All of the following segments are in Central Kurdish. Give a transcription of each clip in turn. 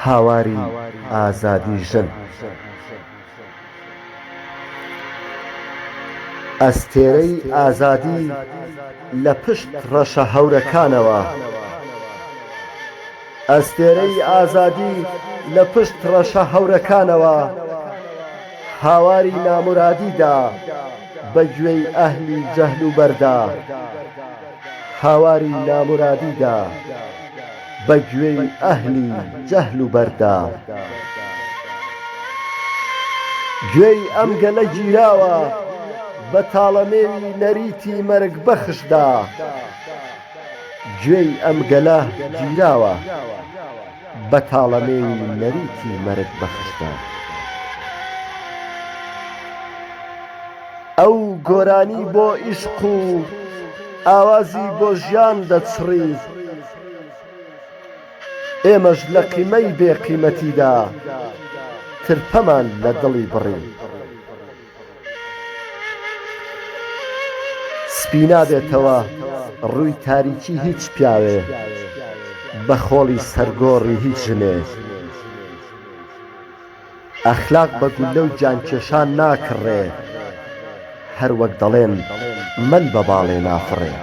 هاواری ئازادی ژن ئەستێرەی ئازادی لە پشت ڕەشە هەورەکانەوە هاواری نامورادی دا. بە گوێی ئەهلی جەهل و بەردا هاواری نامورادی دا بە گوێی ئەهلی جەهل و بەردا گوێی ئەم گەلە گیراوە بە تاڵەمێوی نەریتی مەرگ بەخش دا گوێی ئەم گەلە گیراوە. بەتاڵەمێوی نەریتی مەرگ بەخشتە. ئەو گۆرانی بۆ ئیشق و ئاوازی بۆ ژیان دەچڕی ئێمەش لە قیمەی بێ قیمەتیدا ترپەمان لە دڵی بڕی. سپی نابێتەوە ڕووی تاریکی هیچ پیاوێ بە خۆڵی سەر گۆڕی هیچ ژنێ ئەخلاق بە گوللە و گیان کێشان ناکڕێ هەر وەک دەڵێن مەل بە باڵێ نافڕێ.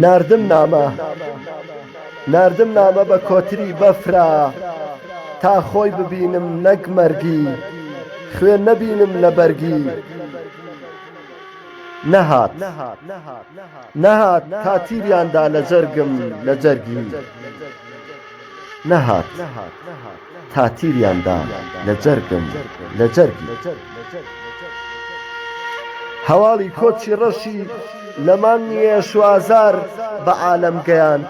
ناردم نامە ناردم نامە بە کۆتری بەفرا تا خۆی ببینم نەک مەرگی خوێ نەبینم لە بەرگی نەهات نەهات تا تیریاندا لە جەرگم لە جەرگی نەهات. تا تیریان دان لە جەرگم لە جەرگی. هەواڵی کۆچی ڕەشی لە مانگی شوازار بە عالەم گەیاند،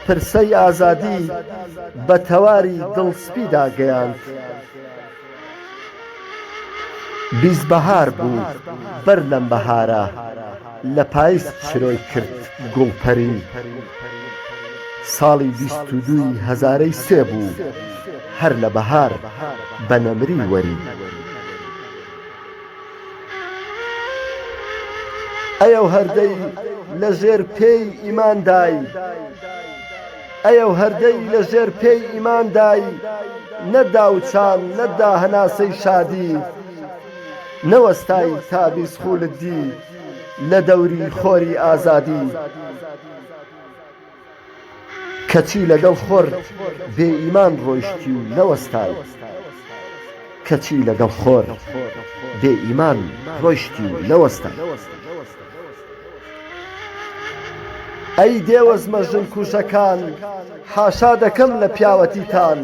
پرسەی ئازادی بە تەواری دڵسپیدا گەیاند. بیست بەهار بوو بەر لەم بەهارە لە پایز چرۆی کرد گوڵپەری ساڵی بیست و دووی هەزارەی سێ بوو هەر لە بەهار بە نەمری وەری ئەی ئەو هەردەی لە ژێر پێی ئیماندای ئەی ئەو هەردەی لە ژێر پێی ئیمان دای نە داوچان نە دا هەناسەی شادی نەوەستای تا بیست خوولت دی لە دەوری خۆری ئازادی کەچی لەگەڵ خۆر بێ ئیمان ڕۆیشتی و نەوەستای کەچی لەگەڵ خۆر بێ ئیمان ڕۆیشتی و نەوەستای. ئەی دێوەزمە ژن کوژەکان حاشا دەکەم لە پیاوەتیتان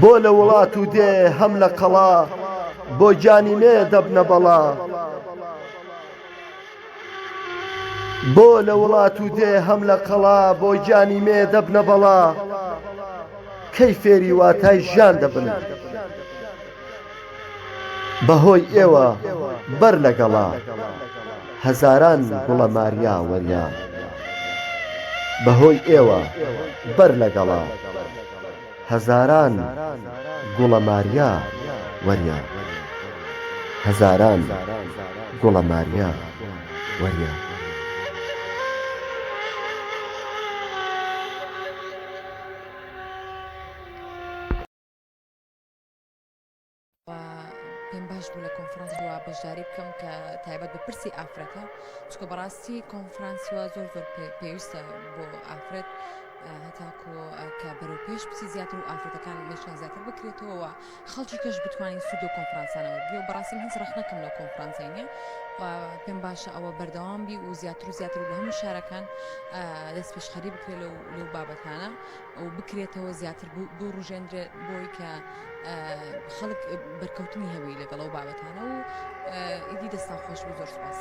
بۆ لە وڵات و دێ هەم لە قەڵا بۆ گیانی مێ دەبنە بەڵا بۆ لە وڵات و دێ هەم لە قەڵا بۆ گیانی مێ دەبنە بەڵا کەی فێری واتای ژیان دەبن. بەهۆی ئێوە بەر لە گەڵا هەزاران گوڵە ماریا وەریا بەهۆی ئێوە بەر لە گەڵا هەزاران گوڵە ماریا وەریا هەزاران گوڵە ماریا وەریا پێم باش بوو لە کۆنفرانس بووە بەشداری بکەم کە تایبەت بە پرسی ئافرەتە چکە بەڕاستی کۆنفرانسوە زۆر زۆر پێویستە بۆ ئافرەت هەتاکۆ کە بەرەو پێش بچی زیاتر و ئافرەتەکان مێشیان زیاتر بکرێتەوە خەڵکی کەش بتوانین سوود و کۆنفرانسانەوە بێ و بەڕاستی هیچ ڕخنەکەم لە کۆنفرانسینە و پێم باشە ئەوە بەردەوام بی و زیاتر و زیاتر و لە هەموو شارەکان دەست پێشخەری بکرێت لەو لەو بابەتانە و بکرێتەوە زیاتر بوروژێندرێت بۆی کە خەڵک بەرکەوتنی هەبی لەگەڵ ئەو بابەتانە و ئیدی دەستان خۆش بی زۆر سوپاس.